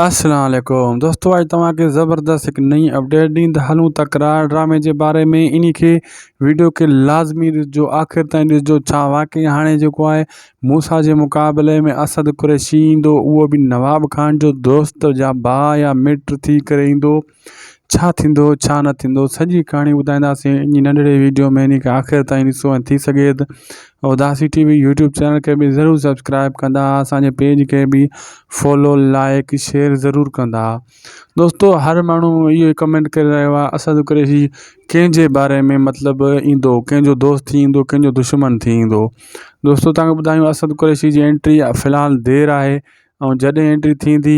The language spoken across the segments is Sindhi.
السلام عليڪم دوستو اڄ توهان کي زبردست هڪ نئين اپڊيٽ ڏيندا هلون تڪرار ڊرامي جي باري ۾ اني کي ويڊيو کي لازمي ڏسجو آخر تائين ڏسجو ڇا واقعي هاڻي جيڪو آهي موسا جي مقابلي ۾ اسد قريشي ايندو اهو به نواب خان جو دوست يا ڀاء يا مٽ ٿي ڪري ايندو ڇا ٿيندو ڇا نه ٿيندو سڄي ڪھاڻي ٻڌائينداسين انھي ننڍڙي ويڊيو ۾ انھي کي آخر تائين ڏسو ۽ ٿي سگھي تھ Udasi T V YouTube channel کي به ضرور سبسڪرائب ڪندا اسان جي پيج کي به فالو لائيڪ شيئر ضرور ڪندا دوستو ھر ماڻھو اھو ڪمينٽ ڪري رھيو آھي اسد قريشي ڪنھن جي باري ۾ مطلب ايندو ڪنھن جو دوست ٿي ايندو ڪنھن جو دشمن ٿي ايندو دوستو تنھن کي ٻڌايو اسد قريشي جي انٽري في الحال دير آھي ۽ جڏھن انٽري ٿيندي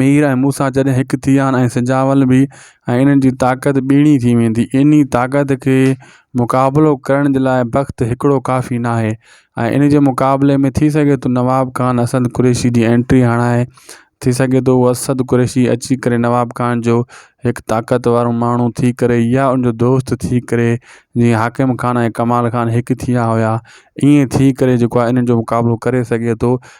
مير ۽ موسا جڏهن هڪ ٿي ويا آهن ۽ سجاول به ۽ انهن جي طاقت ٻيڻي ٿي ويندي انهي طاقت کي مقابلو ڪرڻ جي لاء بخت هڪڙو ڪافي نه آهي ۽ ان جي مقابلي ۾ ٿي سگهي ٿو نواب خان اسد قريشي جي اينٽري هڻائي ٿي سگهي ٿو هو اسد قريشي اچي ڪري نواب خان جو هڪ طاقت وارو ماڻهو ٿي ڪري يا ان جو دوست ٿي ڪري جيئن حاڪم خان ۽ ڪمال خان هڪ ٿي ويا هيا ائين ٿي ڪري جيڪو آهي انهن جو مقابلو ڪري سگهي ٿو